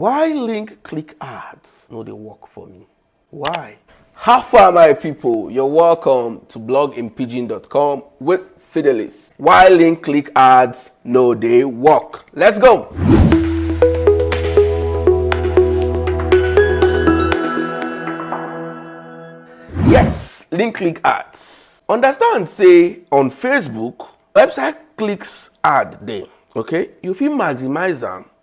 Why link click ads no dey work for me? Why? How far my people? You're welcome to bloginpidgin.com with Fidelis. Why link click ads no dey work? Let's go! Yes, link click ads. Understand say on Facebook, website clicks ad dey. Okay, you fit maximize am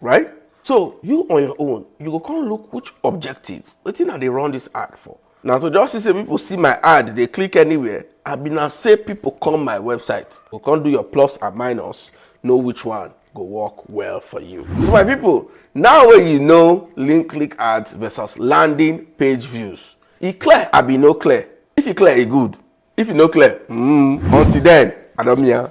right so you on your own you go come look which objective wetin i dey run this ad for na to just see say people see my ad dey click anywhere i be na say people come my website go come do your plus and minus know which one go work well for you so my people now wey you know link click ads versus landing page views e clear abi no clear if e clear e good if e no clear mm, until then adomia.